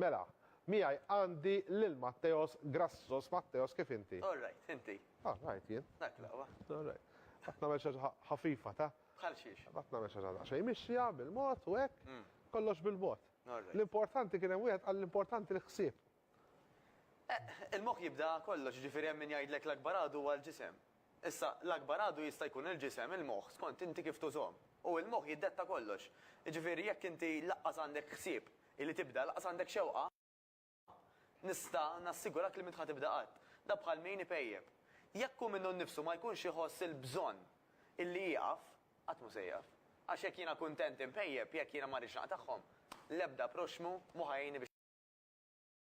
Mela, miegħi għandi lil Matteos Grassos. Matteos, kif inti? All right, inti? All right, jien. Dak l-aqwa. All right. Qed nagħmel xi ħaġa ħafifa, ta? Bħal xiex? Qed nagħmel xi ħaġa daqsxejn mixja, bil-mod u hekk. Kollox bil-mod. All right. L-importanti kien hemm wieħed qal l-importanti l-ħsieb. Il-moħħ jibda kollox, jiġifieri hemm min jgħidlek l-akbar għadu huwa l-ġisem. Issa, l-akbar għadu jista' jkun il-ġisem, il-moħħ, skont inti kif tużhom. U l-moħħ jiddetta kollox. Jiġifieri jekk inti laqqas għandek ħsieb li tibda, laqqas għandek xewqa, nista' nassigurak li m'int ħa tibda qatt. Dan bħal min ipejjep. Jekk hu minnu nnifsu ma jkunx iħoss il-bżonn illi jieqaf, qatt mhu se jieqaf. Għax jekk jiena kuntent inpejjep, jekk jiena ma rridx naqtagħhom, l-ebda proxxmu mhu ħa jgħinni biex.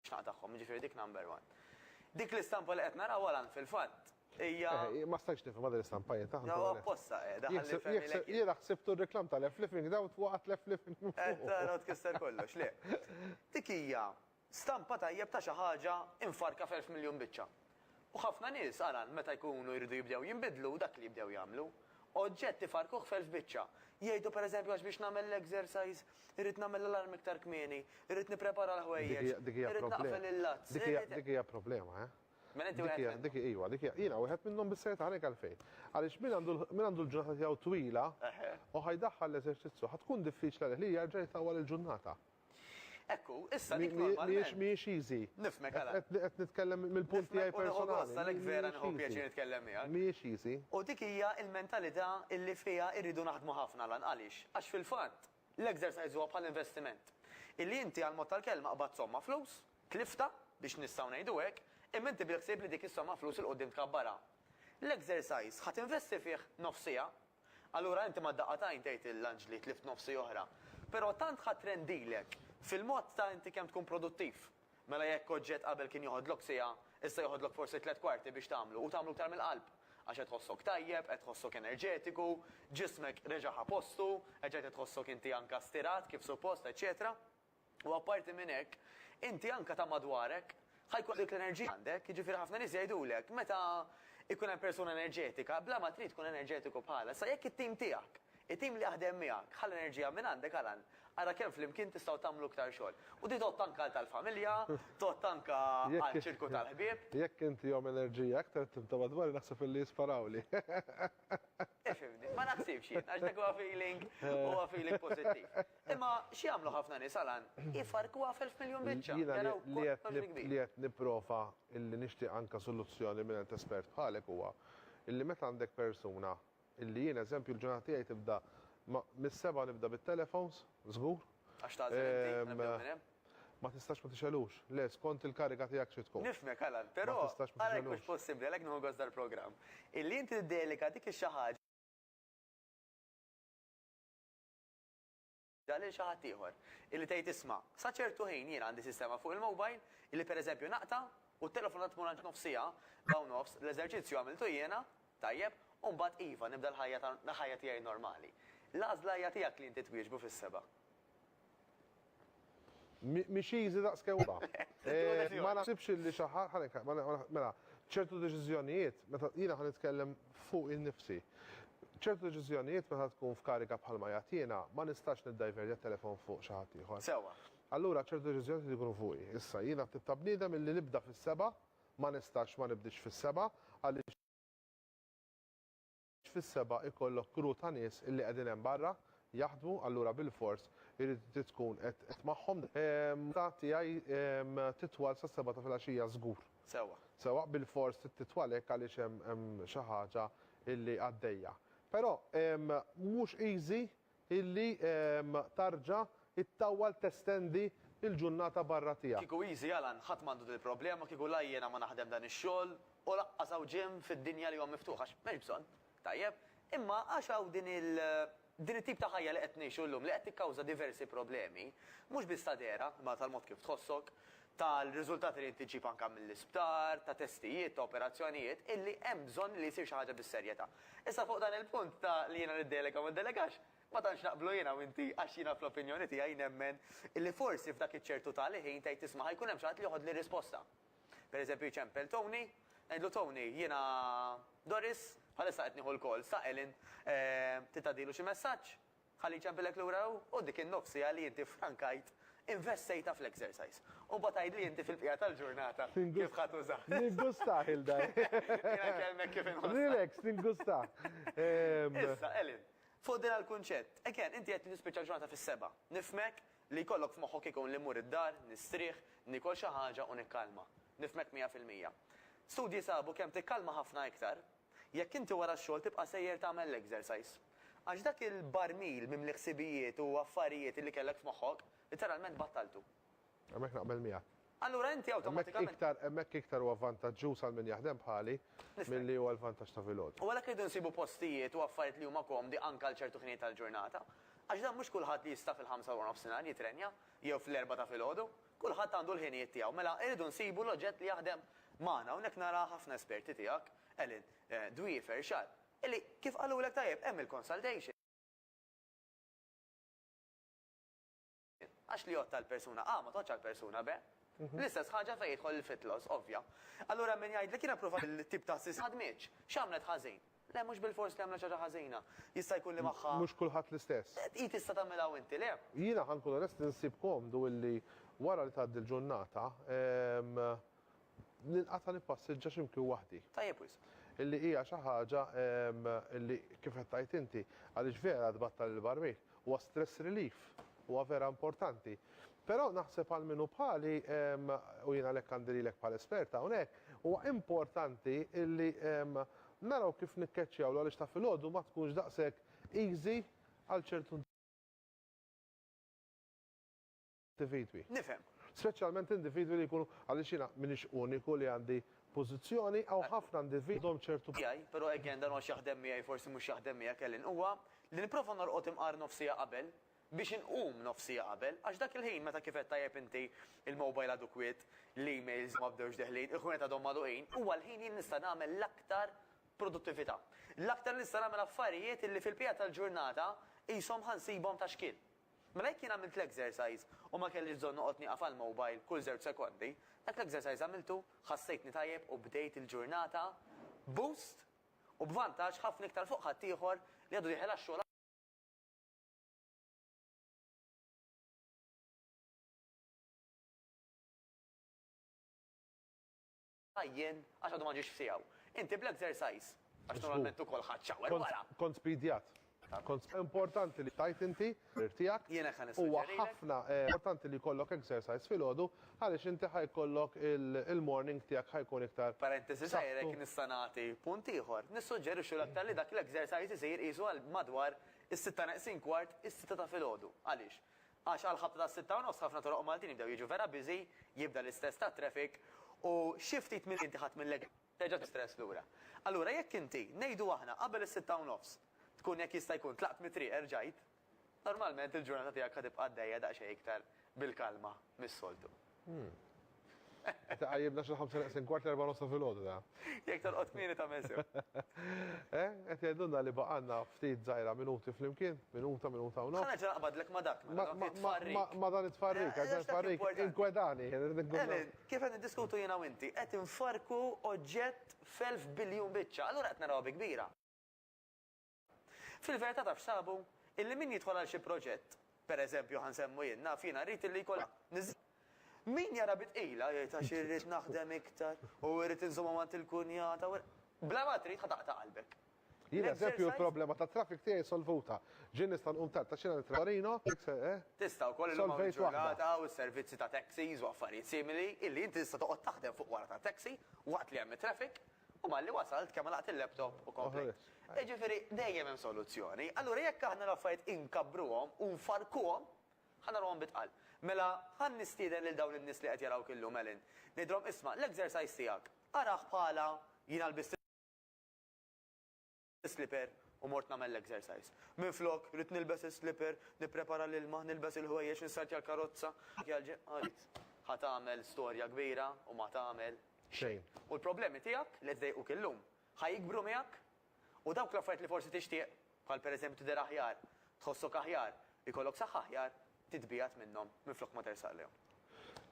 X'naqa tagħhom, jiġifieri dik number one. Dik l-istampa li qed nara wara fil-fatt hija. Eh, ma stajtx nifhimha din l-istampa jien taħt. Ġewwa apposta qiegħda eh, ħalli fehmilek. Jiena ħsibtu r-reklam tal-F-Living dawt waqgħet l-F-Living. Qed tara tkisser kollox, le. Dik hija stampa tajjeb ta' xi ħaġa imfarka f'elf miljun biċċa. U ħafna nies, aran, meta jkunu jridu jibdew jinbidlu, dak li jibdew jagħmlu. Oġġett ifarrkuh f'elf biċċa. Jgħidu, per eżempju, għax biex nagħmel l-exercise, irrid nagħmel l-alarm iktar kmieni, irrid nipprepara l-ħwejjeġ, irrid naqfel il-lazz, irrid. Dik hija problema, eh. Mela inti wieħed minnhom. Dik, iva, dik hija. Jiena wieħed minnhom bis-serjetà ngħidlek għalfejn. Għaliex min għandu, min għandu l-ġurnata tiegħu twila u ħa jdaħħal l-eżerċizzju, ħa tkun diffiċli għalih li jerġa' jtawwal il-ġurnata. Ekku, issa dik normalment. Mhijiex mhijiex easy. Nifhmek għala. Qed nitkellem mill-punt tiegħi personali. Għalhekk vera nieħu pjaċir nitkellem miegħek. Mhijiex easy. U dik hija l-mentalità li fiha rridu naħdmu ħafna, Alan. Għaliex? Għax fil-fatt, l-exercise huwa bħal investiment. Illi inti għall-mod tal-kelma qbadt somma flus, tliftha, biex nistgħu ngħidu hekk, imma inti bil-ħsieb li dik is-somma flus 'il quddiem tkabbarha. L-exercise ħa tinvesti fih nofs siegħa, Allura inti ma' daqqa t'għajn tgħid lill-anġli tlift nofsi oħra. Però tant ħadt rendilek fil-mod ta' inti kemm tkun produttiv. Mela jekk oġġett qabel kien joħodlok siegħa, issa joħodlok forsi tliet kwarti biex tagħmlu u tagħmlu iktar mill-qalb. Għax qed tħossok tajjeb, qed tħossok enerġetiku, ġismek reġa' ħa postu, reġgħet qed tħossok inti anka stirat kif suppost, eċċetera. U apparti minn hekk, inti anke ta' madwarek ħa jkollok dik l-enerġija għandek. Jiġifieri ħafna nies jgħidulek meta jkun hemm persuna enerġetika, bla ma trid tkun enerġetiku bħalha. Issa jekk it-tim tiegħek, it-tim li jaħdem miegħek ħa l-enerġija minn għandek, Alan, ara kemm flimkien tistgħu tagħmlu iktar xogħol. U din tgħodd anke għal tal-familja, tgħodd anke għaċ-ċirku tal-ħbieb. Jekk inti jom enerġija, aktar it-tim ta' madwari naħseb illi jisparawli. Tifhimni, ma naħsibx jien, għax dak huwa feeling, huwa feeling pożittiv. Imma x'jagħmlu ħafna nies, Alan, ifarrkuha f'elf miljun biċċa. Jiena li qed nipprova illi nixtieq anke soluzzjoni mingħand espert bħalek huwa illi meta għandek persuna illi jien eżempju l-ġurnata tiegħi tibda mis-sebgħa nibda bit-telefons, żgur. Għax tagħżel inti, nibdew minn hemm. Ma tistax ma tixgħelux. Le, skont il-kariga tiegħek xi tkun. Nifhmek, Alan, però għalhekk mhux possibbli, għalhekk nieħu gost dal-programm, illi inti tiddelika dik ix-xi ħaġa lil xi ħadd ieħor. Illi tgħid isma', sa ċertu ħin jiena għandi sistema fuq il-mobile illi pereżempju naqta' u t-telefonata tmur għand nofs siegħa, siegħa u nofs, l-eżerċizzju għamiltu jiena, tajjeb, u mbagħad iva, nibda l-ħajja tiegħi normali. L-għażla hija tiegħek li inti twieġbu fis-sebgħa. Mhix easy daqs kemm huwa. Ma naħsibx li xi ħadd ħalli nka- ma- ma- mela, ċertu deċiżjonijiet, meta jiena ħa nitkellem fuqi nnifsi. ċertu deċiżjonijiet meta tkun f'kariga bħalma qiegħed jiena, ma nistax niddajverja t-telefon fuq xi ħadd ieħor. Sewwa. Allura ċertu deċiżjonijiet irid ikunu fuqi. Issa, jiena t-tip ta' bniedem illi nibda fis-sebgħa, ma nistax ma nibdiex fis-sebgħa, għaliex. fis-sebgħa ikollok crew ta' nies illi qegħdin hemm barra jaħdmu allura bilfors irid tkun qed qed magħhom ta' tiegħi titwal sas-sebgħa ta' filgħaxija żgur. Sewwa. Sewwa bilfors trid titwal hekk għaliex hemm hemm xi ħaġa illi għaddejja. Però mhux easy illi tarġa ittawwal testendi il-ġunnata barra tiegħek. Kieku easy Alan ħadd m'għandu dil problema kieku la jiena ma naħdem dan ix-xogħol u laqqas hawn gym fid-dinja li huwa miftuħ għax m'hemmx bżonn, tajjeb, imma għax hawn din il din it-tip ta' ħajja li qed ngħixu llum li qed tikkawża diversi problemi, mhux biss ta' dehra imma tal-mod kif tħossok, tal-riżultati li jintiġġib anke mill-isptar, ta' testijiet, ta' operazzjonijiet, illi hemm bżonn li jsir xi ħaġa bis-serjetà. Issa fuq dan il-punt ta' li jiena niddelega u ma ndelegax, ma tantx naqblu jiena u inti għax jiena fl-opinjoni tiegħi nemmen illi forsi f'dak iċ-ċertu tali ħin tgħid isma' ħa jkun hemm xi ħadd li joħodli r-risposta. Pereżempju jċempel Tony, ngħidlu Tony, jiena Doris, bħalissa qed nieħu l-calls ta' Ellen, trid tgħaddilu xi messaġġ? Ħalli jċempillek lura hu, u dik in-nofs siegħa li inti ffrankajt investejtha fl-exercise. U mbagħad għidli inti fil-bqija tal-ġurnata kif ħa tuża. Ningustah il dar. Jiena nkellmek kif inħossha. Relax, ningustah. Issa, Helen, fuq din għall-kunċett. Again, inti qed li tispiċċa l-ġurnata fis-sebgħa. Nifhmek li jkollok f'moħħok ikun li mmur id-dar, nistrieħ, niekol xi ħaġa u nikkalma. Nifhmek mija fil-mija. Studji sabu kemm tikkalma ħafna iktar, Jekk inti wara x-xogħol tibqa' sejjer tagħmel l-exercise. Għax dak il-barmil mimli ħsibijiet u affarijiet li kellek f'moħħok, litteralment battaltu. Hemmhekk naqbel miegħek. Allura inti awtomatikament. Hemmhekk iktar huwa vantaġġuż għal min jaħdem bħali milli huwa l-vantaġġ ta' filgħodu. U għalhekk irridu nsibu postijiet u affarijiet li huma komdi anke għal ċertu ħinijiet tal-ġurnata. Għax dan mhux kulħadd li jista' fil-ħamsa ta' warnofsinhar jitrenja jew fl-erbgħa ta' filgħodu. Kulħadd għandu l-ħinijiet tiegħu. Mela irridu nsibu l-oġġett li jaħdem magħna. Hawnhekk nara ħafna esperti tiegħek, Ellen, Dwie, Ferxad, illi kif qalulek tajjeb hemm il-consultation. Għax li jgħodd għall-persuna A ma tgħoddx għall-persuna B. L-istess ħaġa fejn jidħol il-fit loss, ovvja. Allura min jgħidlek jiena ppruvajt il-tip ta' assist ma ħadmitx, x'għamlet ħażin? Le, mhux bilfors li għamlet xi ħaġa ħażina. Jista' jkun li magħha. Mhux kulħadd l-istess. Hi tista' tagħmilha u inti le. Jiena ħa nkun onest insib komdu illi wara li tgħaddi l-ġurnata, ninqata' nippassiġġa xi mkien waħdi. Tajjeb wisq. Illi hija xi ħaġa illi, kif qed tgħid inti, għaliex vera tbattal il-barmin. Huwa stress relief. Huwa vera importanti. Però naħseb għal min hu bħali, u jien għalhekk għandi lilek bħala esperta hawnhekk, huwa importanti illi Naraw kif nikkeċċjawlu għaliex ta' filgħodu ma tkunx daqshekk easy għal ċertu individwi. Nifhem. Speċjalment individwi li jkunu, għaliex jiena m'iniex uniku li għandi pożizzjoni, hawn ħafna individwi li għandhom ċertu. Tiegħi, però again dan huwa x'jaħdem miegħi forsi mhux jaħdem miegħek Ellen, huwa li nipprova norqod imqar nofs siegħa qabel, biex inqum nofs siegħa qabel, għax dak il-ħin meta kif qed tajjeb inti, il-mobile għadu kwiet, l-emails ma bdewx deħlin, il-ħwienet għadhom magħluqin, huwa l-ħin jien nista' nagħmel l-aktar produttività. L-aktar li nista' nagħmel affarijiet illi fil-bqija tal-ġurnata qishom ħa nsibhom ta' xkiel. Mela jekk jien għamilt l-exercise u ma kellix bżonn noqgħod nieqaf għall-mobile kull żewġ sekondi, dak l-exercise għamiltu, ħassejtni tajjeb u bdejt il-ġurnata b'boost u b'vantaġġ ħafna iktar fuq ħaddieħor li għadu dieħel għax-xogħol. Jien, għax għadu ma ġiex f'siegħu. Inti bl-exercise, għax normalment ukoll ħadd shower wara. Kont spidjat. Kont importanti li tajt inti l-parir tiegħek. Jien hekk ħa nissuġġerilek. Huwa ħafna importanti li jkollok exercise filgħodu għaliex inti ħa jkollok il-morning tiegħek ħa jkun iktar. Parentesi żgħira jekk nista' nagħti punt ieħor. Nissuġġerixxu l-aktar li dak l-exercise isir qisu għal madwar Is-sitta neqsin kwart, is-sitta ta' filgħodu. Għaliex? Għax għall-ħabta tas-sitta u nofs ħafna toroq Maltin jibdew jiġu vera busy, jibda l-istress tat-traffic u xi ftit milli inti ħadt mill-ekk terġa' tistress lura. Allura jekk inti, ngħidu aħna, qabel is-sitta u nofs tkun jekk jista' jkun tlaqt mit-triq erġajt, normalment il-ġurnata tiegħek ħa tibqa' għaddejja daqsxejn iktar bil-kalma mis-soltu. Qed iqajjimna xi l-ħamsa neqsin kwart l-erbgħa nofs ta' filgħodu da. Jekk torqod kmieni tagħmel sew. Eh, qed jgħidulna li baqgħalna ftit żgħira minuti flimkien, minuta, minuta u nofs. Ħa nerġa' naqbadlek ma' dak, ma' dan it-tfarrik. Ma' dan it-tfarrik, għax dan it-tfarrik inkwetani. Emil, kif qed niddiskutu jiena u inti, qed infarrku oġġett f'elf biljun biċċa, allura qed narawha bi kbira. Fil-verità taf x'sabu? Illi min jidħol għal xi proġett, per eżempju ħa nsemmu jien, naf jiena rrid illi jkollha, niż. Min jara bi tqila jgħid għax irrid naħdem iktar u irrid inżommha ma' għand il-kunjata u. Bla ma trid ħa taqta' qalbek. Jien eżempju l-problema tat-traffic tiegħi solvuta. Ġieli nista' nqum tard għax jiena nittrażżan Torino, eh? Tista' wkoll illum hawn il-ġurnata hawn is-servizzi ta' taxis u affarijiet simili illi inti tista' toqgħod taħdem fuq wara tat-taxi waqt li hemm it-traffic U malli wasalt, kemm għalaqt il-laptop u komplejt. Jiġifieri dejjem hemm soluzzjoni. Allura jekk aħna l-affarijiet inkabruhom u nfarrkuhom, ħa nagħmluhom bit-tqal. Mela, ħa nistieden lil dawn in-nies li qed jarawk illum, Ellen, ngħidilhom, isma', l-exercise tiegħek, arah bħala, jiena lbist is-slipper u mort nagħmel l-exercise. Minflok, ridt nilbes is-slipper, nipprepara l-ilma, nilbes il-ħwejjeġ, nistartja l-karozza. Għidt, Ħa tagħmel storja kbira u ma tagħmel xejn. U l-problemi tiegħek li qed iḍejquk illum, ħa jikbru miegħek. U dawk l-affarijiet li forsi tixtieq, bħal pereżempju tidher aħjar, tħossok aħjar, ikollok saħħa aħjar, titbiegħed minnhom minflok ma tersaq lejhom.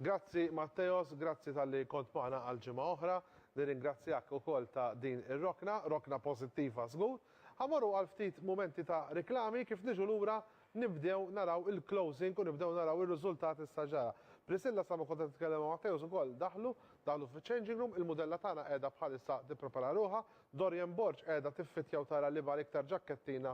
Grazzi Matteos, grazzi talli kont magħna għal ġimgħa oħra. Nirringrazzjak ukoll ta' din ir-rokna, rokna posittiva żgur. Ħa mmorru għal ftit mumenti ta' riklami, kif niġu lura nibdew naraw il-closing u nibdew naraw ir-riżultat issa ġara. Priscilla sa ma kont qed nitkellem ma' Matteos ukoll daħlu, daħlu fiċ-changing room, il-mudella tagħna qiegħda bħalissa tipprepara ruħha, Dorian Borg qiegħda tiffittja u tara liema l-iktar ġakkettina